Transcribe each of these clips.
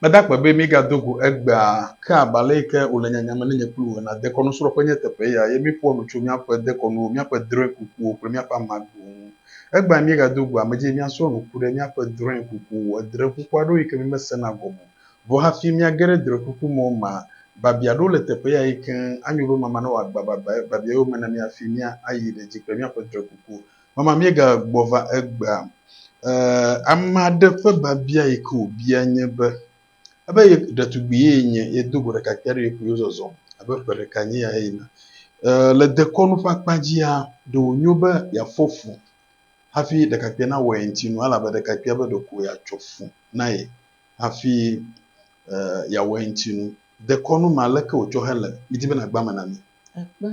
Meda akpe be mígado go egbea, ke abe ale yi ke wòle nyanyame na nye kple wò ene. Dekɔnusrɔ̃ƒe nye teƒe ya, ye míeƒoa nu tso míaƒe dekɔnuwo, míaƒe drɔ̃e kukuwo kple míaƒe ame agbowo ŋu. Egbea míegado go ame dzi be míasrɔ̃ nu ku ɖe míaƒe drɔ̃e kuku, edrɔ̃e kuku aɖewo yi ke mímesena gɔme o. Vɔ hafi míage ɖe drɔ̃e kuku me o mea, biabia aɖewo le teƒe ya eye keŋ anyo be mama nawɔ agbababa biabia yome na mí hafi míayi ɖe edzi kple míaƒe drɔ̃e kukuwo. Mama míegagbɔ va egbea, ee, ame aɖe ƒe biabia yi ke wòbia nye be, ebe ye ɖetugbui ye nye ye do go ɖeka kpia ɖe ye kple yewo zɔzɔm abe ƒe ɖeka nye ya eyina. Ee, le dekɔnu ƒe akpa dzia, ɖe wònyo be yeafɔ fu hafi ɖekakpuia nawɔ ye ŋuti nu, elabe ɖekakpuia be ɖeko yeatsɔ fu na ye hafi ee, yeawɔ ye ŋuti nu. Dekɔnu ma, leke wòtsɔ hele? Midi be nàgba eme na mí. Ekpe.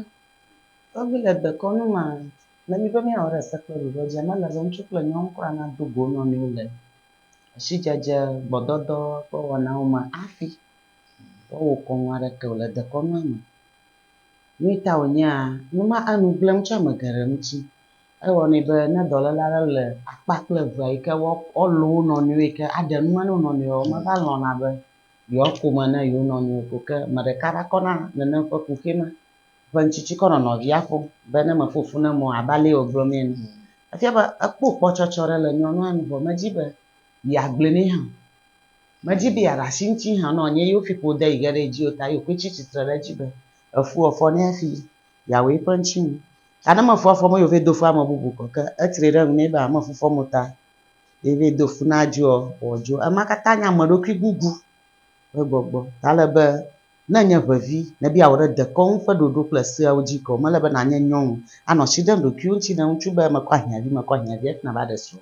Tɔgbi le dekɔnu ma, Le mí be míawɔ ɖe se kple ɖoɖoa dzi, ame lele ŋutsu kple nyɔnu kura nado go wo nɔnɔewo le asidzedze, gbɔdɔdɔ ƒe wɔnawo me hafi woawɔ kɔnu aɖeke o le dekɔnua me. Nui ta wònyea? Nu ma anu gblẽ ŋutsu ame geɖe ŋuti. Ewɔnɛ be ne dɔléle aɖe le akpa kple evea yi ke woalɔ̃ wo nɔnɔewo yi ke aɖe nu me na wo nɔnɔewoa, womava lɔ̃na be yewoako me na yewo nɔnɔewo o. Ke ame ɖeka va kɔna nenem ƒe kuxi ma. ƒe ŋtsitsi kɔ nɔ nɔvia ƒom be ne meƒo ƒu ne mɔ abe ale wògblɔ nɛ ene. Efia be ekpɔ kpɔtsɔtsɔ ɖe le nyɔnua nu vɔ medi be yeagblɔe nɛ hã o. Medi be yeaɖe asi eŋuti hã nɔ nye yewo ƒiƒo de yi ge ɖe edzi o ta yewo koe tsi tsitre ɖe edzi be efua fɔ nɛ hafi yeawɔ eƒe ŋuti nu. Ta ne mefua fɔ me ye wòvae do fu ame bubu kɔ ke etri ɖe ŋu nɛ be meƒu fɔm o ta ye vae do fu na dzoa, wòadzo. Ema katã nye ameɖokuigugu ƒe gbɔgbɔ ta ale be Ne ènye ƒe vi, ne be yeawɔ ɖe dekɔnu ƒe ɖoɖo kple seawo dzi ke o, mele be nànye nyɔnu, anɔ asi ɖem ɖokuiwò ŋuti ne ŋutsu be mekɔ ahiãvi, mekɔ ahiãvi hafi nàva ɖe srɔ̃.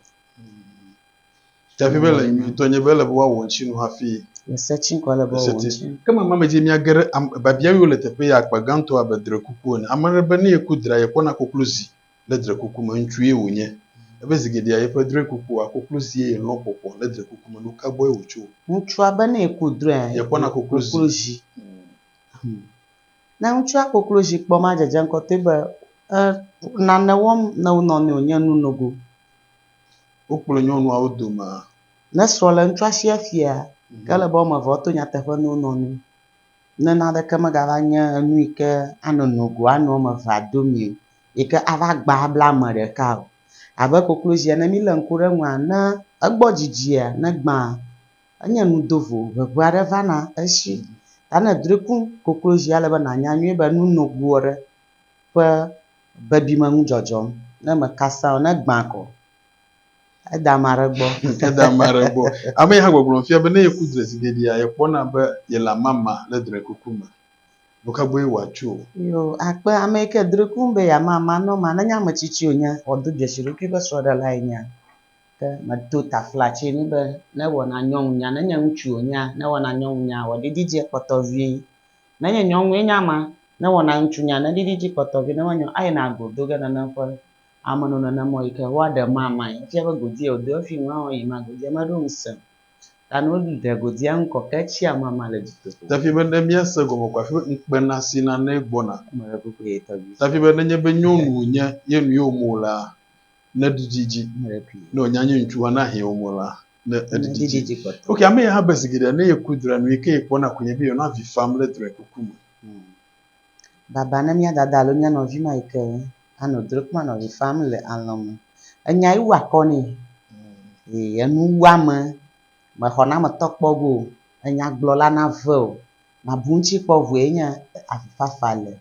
Tsaƒe be ele nyuitɔ nye be ele be woawɔ ŋuti nu hafi. Le se tsi ŋkɔ ele be woawɔ ŋuti nu. Ke mama me dzi mía geɖe, am, biabia yiwo le teƒe ya akpa gãtɔ abe drekuku ene. Ame aɖe be ne yeku dra, yekpɔna koklozi le drekuku me, ŋutsue wònye. Ebe zi geɖea yeƒe drɔe kukua, koklozie yelɔ̃ ƒoƒoa le drekuku me. Nuka gbɔe wòtso? Ŋutsua be ne yeku drɔea, yekpɔna koklozi. Hum. Ne ŋutsua koklozi kpɔ ma dzedze ŋkɔtɔe be e nane wɔm ne wo nɔnɔewo nye nu nogo. Wokplɔe nyɔnuawo domea? Ne srɔ̃ le ŋutsua si efia, ke ele be woame eve woato nyateƒe ne wo nɔnɔewo, ne naneke megava nye enu yi ke anɔ nogo ane woame evea domee o. yi ke ava gba abla ame ɖeka o. Abe koklozia ne mílé ŋku ɖe eŋua, ne egbɔ dzidzia, ne egbãa, enye nu dovo, ŋeŋe aɖe vana esi. Ta ne èdrɔ̃e ku koklozi ale be nànya nyuie be nu nogo aɖe ƒe bebime ŋu dzɔdzɔm. Ne meka sẽa, ne egbã ko, ede ame aɖe gbɔ. Ede ame aɖe gbɔ. Ame yi hã gbɔgblɔm fia be ne yeku drɔ̃ezigeɖea, yekpɔna be yele amama le drɔ̃ekuku me. nu ka gbɔe wòatso o. Yoo, akpe ame yi ke dri kum be yeama amanɔama, nenye ame tsitsi wònye, wòado dzesi eɖokui be srɔ̃ɖelae nyea, ke medo taflatsi nɛ be ne ewɔna nyɔnunya, nenye ŋutsu wònyea, ne ewɔna nyɔnunya, wòaɖiɖi edzi kpɔtɔ vie. Nenye nyɔnue nye ama, ne ewɔna ŋutsunya, neɖiɖi edzi kpɔtɔ vie, nenye nyɔnu, ayina go do ge nenem ƒe amenononamɔ yi ke woaɖe mamãe. Efia be godi ye wòdo efi ŋu, eɔ̃ yi ma godi ye meɖo ŋusẽ o. Ta no ɖe go dia ŋkɔ ke tsi ama ma le dzi toto. Tafi be ne mia se gɔme ko afi be ŋkpe na si na ne gbɔ na. Eme le kuku ye tɔ vi. Tafi be ne nye be nyɔnu wo nye ye nu ye wo mo la ne ɖiɖi dzi. Eme le kui. Ne wo nya nye ŋutsu wa na hɛn wo mo la ne eɖiɖi dzi. Dzi kpɔtɔ. Ok ame ya ha be zigiɖe ne ye ku dra nu ye ke ye kpɔ na ku nye be yɔ na vi fam le dra kuku me. Baba ne mía dada alo mía nɔvi ma yi ke anɔ dro kple nɔvi fam le alɔ̃ me. Enya ye wua kɔ nɛ. Ee, enu wu ame. Mexɔ na ametɔ kpɔ go o. Enyagblɔla nave o. Mabu eŋuti kpɔ o vɔe nye avifafa le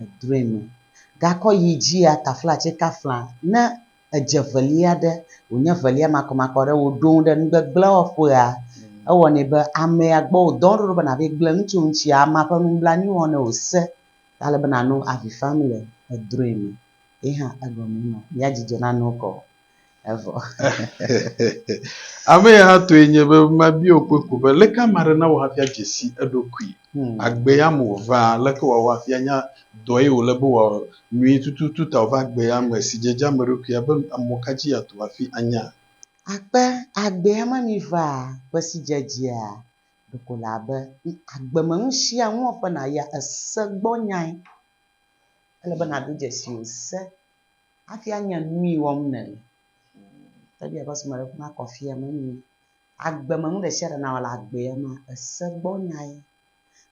edroe me. Gakɔ yi dzia taflatse kafla ne edze velia ɖe, wònye velia makɔmakɔ ɖe, wòɖo ŋu ɖe nugbegblẽ wɔƒea. Ewɔnɛ be amea gbɔ wòdɔ wo ɖo ɖo be nàvae gblẽ nu tso eŋuti. Amea ƒe nublanui wɔm nɛ wòse ta ale be nànɔ avi fam le edrɔ̃e me. Ye hã egɔmee ma, ya dzidzɔ nanɔ wo kɔ o. Evɔ. Ame ya hã tɔe nye be mabia wò kpɔe ko be, Aleke ame aɖe nawɔ hafi adze si eɖokui? Agbea me wòva, leke wòawɔ hafi anya dɔ ye wòle be wòawɔ nyuie tututu ta wòva agbea me si dze edzi ame ɖokuia be mɔ ka dzi yeato hafi anya? Akpe agbea me mi va ƒe si dze edzia? Ɖeko le abe agbe me nu sia nu wɔƒe nàyia ese gbɔ nyae. Ele be nàdo dzesi wò se hafi anya nui wɔm nèle. Teƒe sia ƒe srɔ̃mele ƒe nakɔ afia menye. agbe me nu ɖe sia ɖe nawɔ le agbea mea, ese gbɔ nyae.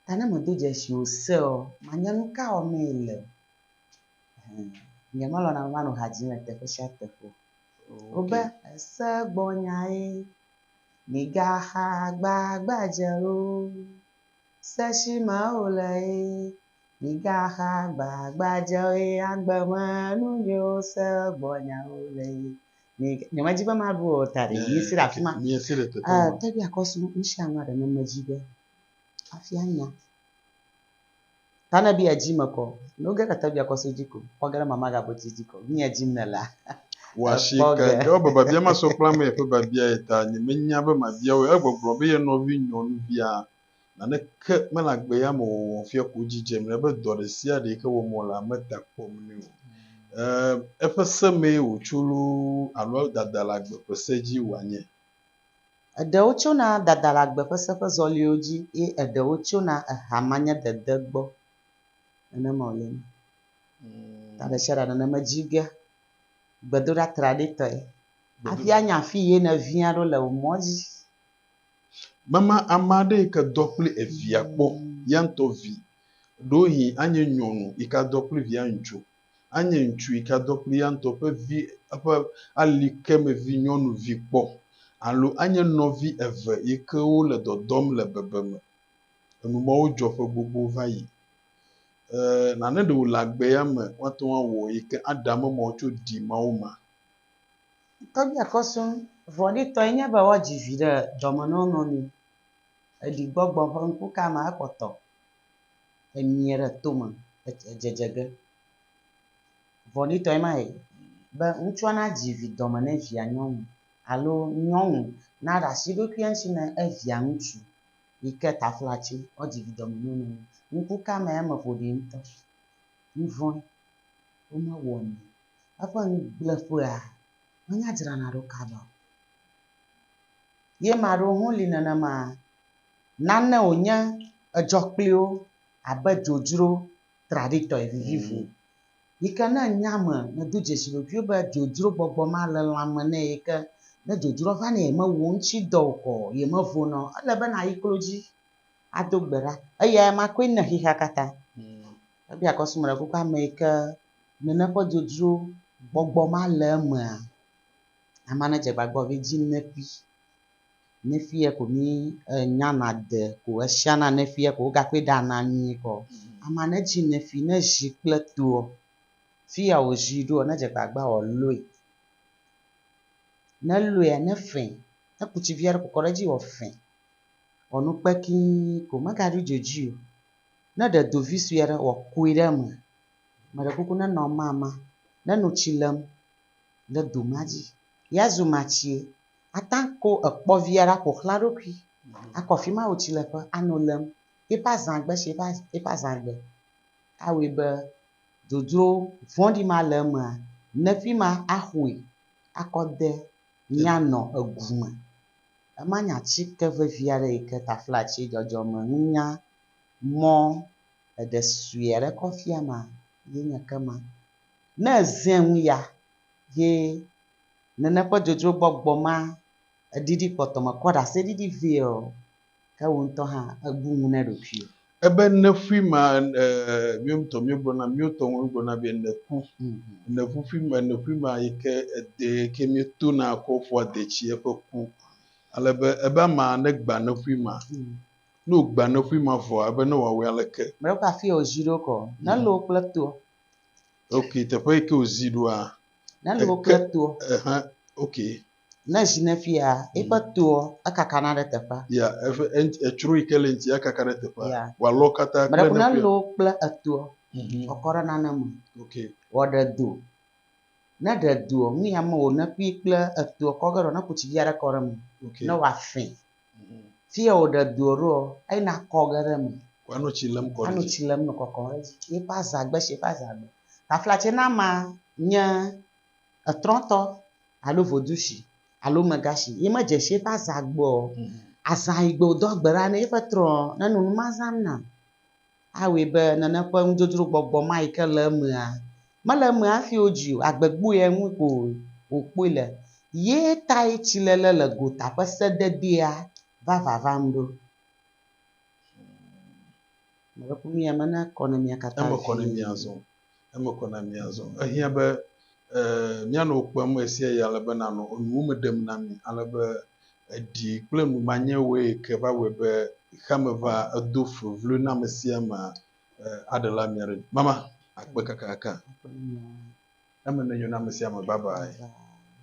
Ta ne medo dzesi o seɔ, manya nu ka wɔm mee le. Ɛhɛ. Nyemelɔ̃na be manɔ ha dzim le teƒe sia teƒe o. Wobe, ese gbɔ nyae, migaxa gbagbadze o. Se si me wòle ye, migaxa gbagbadze o ye agbe me nu nyiwo se gbɔ nyawo le ye. Ni nyemedi be maɖu o ta ɖe mi si ɖe afi ma. Miesi ɖe teƒe ma. Te ɖe akɔsu nu sia nua ɖe ne medzi be hafi anya. Ta ne bi edzi me kɔ. Ne woge ɖe te bi akɔsu dzi ko, kpɔ ge ɖe mama gabo dzi dzi ko. Mi edzim ne la. Wɔasi ke ke wo babia masɔ kpla me yeƒe babia ye ta nyemenya be mabia wo. Egbɔgblɔ be ye nɔvi nyɔnuvia Naneke mele agbeyamewɔwɔ fiaku dzi dzem ne be dɔ ɖe sia ɖe yi ke wɔm wolea, meda kpɔm nɛ o. Em, eƒe se mee wòtso loo alo dadalagbe ƒe se dzi wòanye. Eɖewo tsona dadalagbe ƒe se ƒe zɔliwo dzi ye eɖewo tsona ehamanyedede gbɔ. Nenema wòle eme. Ta ɖe sia ɖe nɔ eme dzi ge gbedoɖa traɖitɔe hafi anya afi ye nèviã ɖo le wò mɔ̃ dzi. Mema ame aɖe yi ke dɔ kple evia kpɔ, ya ŋutɔ vi. Ɖewohĩ anye nyɔnu yi ke adɔ kple via ŋutsu, anye ŋutsu yi ke adɔ kple eya ŋutɔ ƒe vi, eƒe ali ke me vi nyɔnuvi kpɔ alo anye nɔvi eve yi ke wole dɔdɔm le bebeme. Enu mawo dzɔ ƒe gbogbo va yi. E, nane ɖe wòle agbe ya me woate ŋu awɔ yi ke aɖe ame mawo tso ɖi Mawu ma. Tɔgbuia kɔ sɔŋ. Vɔ̃ɖitɔe nye be woadzi vi ɖe dɔme na wo nɔnɔewo. Eɖi gbɔgbɔ ƒe ŋku ka me ekpɔtɔ emie ɖe tome edzedze ge. Vɔ̃ɖitɔe ma be ŋutsua nadzi vi dɔme na evia nyɔnu alo nyɔnu naɖe asi eɖokui ŋuti na evia ŋutsu yi ke taflatse woadzi vi dɔme na wo nɔnɔewo. Ŋku ka mea eme ƒoɖi ŋutɔ. Nuvɔ̃e womewɔnɛ o. eƒe ŋugbleƒea menye adzrana ɖo kaba o. Ye ame aɖewo hã li nenema, nane wònye edzɔ kpli wo abe dzodzro traɖitɔe vivivo yi ke ne ènye ame nèdo dzesi ɖokuiwò be dzodzro gbɔgbɔ ma le lãme nɛ yi ke ne dzodzroa va nɛ yemewɔ wo ŋuti dɔ o kɔ yemevona o. Ele be nàyi klo dzi ado gbe ɖa. Eyae ma koe nèxexea katã. Ebia kɔ srɔ̃ me ɖe kukua me yi ke nene ƒe dzodzro gbɔgbɔ ma le emea. Ame aɖe dze agbagba be edzi Nefi. Nefi ye ko mi enya na de ko esia na Nefi ye ko wo gakɔe ɖa na mi kɔ. Ame aɖe dzi Nefi ne zi kple toa fi ya wo zi ɖoa ne dze agbagba wo lɔe. Ne lɔe ne fe ne ku tsi vi aɖe kɔ ɖe edzi wo fe. Wɔ nu kpekii ko me ga ɖo dzo dzi o. Ne ɖe do vi sue aɖe wòakui ɖe eme, meɖe kuku nenɔ amama, neno tsi lem ɖe do ma dzi. Ye azu matsie, ate ŋu akɔ ekpɔ vi aɖe aƒo xlã eɖokui, akɔ afi ma wò tsileƒe ano lem. Eƒe azãgbe tsi eƒe az eƒe azãgbe awɔe be dodro vɔ̃ɖi ma le emea, ne fi ma axɔe akɔ de mía nɔ egu me. Emanye atike vevi aɖe yi ke taflatsi dzɔdzɔme nunya mɔ ɖeɖe sue aɖe kɔ fia ma ye nye ke ma. Ne èzẽ ŋu ya, ye nene ƒe dzodzrogbɔgbɔ ma ɖiɖi kpɔtɔme kɔ ɖaseɖiɖi vɛ ɔ, ke wò ŋutɔ hã èbu ŋu na ɖokuiwò. Ebe nèƒui ma mìwo ŋutɔ mìwogblɔna mìwo tɔwo mìwogblɔna be nèku. Nèƒuƒui ma nèƒui ma yi ke edee yi ke mìtona kɔ ƒua dee tsi eƒe ku. Ale be ebe ama negba nèƒui ma. Ne wògba nèƒui ma vɔa ebe ne wòawɔe aleke? Mlɔe ƒe afie wòzi ɖo kɔ. Nelo kple toa. Ok teƒe yi ke wòzi ɖoa. Nelo kple toa. Ehẽ ok. Ne zi ne fia, eƒe toa, ekakana ɖe teƒea. Ya, eƒe etsro yi ke le eŋuti akaka ɖe teƒea. Wòalɔ katã kple ne fia. Meɖe ko ne lɔ kple etoa, wòakɔ ɖe nane me. Wòaɖe do. Ne eɖe doa, nu ya me wòne ƒui kple etoa kɔ ge ɖoa, ne kutsi vi aɖe kɔ ɖe eme, ne wòafẽ. Fia wòɖe doa ɖoa, eyina akɔ ge ɖe eme. Wòanɔ tsi lém kɔ ɖe edzi. Anɔ tsi lém nɔ kɔkɔm ɖe edzi. Eƒe azãgbe si eƒe azãgbe. Taflatse nama nye etrɔtɔ alo vodushi alo megashi ye medze shi eƒe azã gbɔ o. Azã yi gbe wòdo agbe ɖa ne ye ƒe trɔ ne nu ma zãm nam. Awɔe be nane ƒe nudzodzro gbɔgbɔ ma yi ke le emea, mele eme hafi wodzi o, agbe gbɔea ŋu ko wòkpɔe le. Ye tae tsiléle le gota ƒe sededea va vavam ɖo. Mele ƒome ya me na kɔ ne mía katã vie. eme kɔ na mí azɔ. Ehiã be míanɔ wò kpem ɣesiaɣi ale be nànɔ enuwo me ɖem na mí ale be èɖi kple numanyɛwoe ke va wɔe be xexeame va edo fevloe na amesiamea aɖela mía ɖe dzi. Mama, akpe kakaka eme nenyo na amesiame. Babae.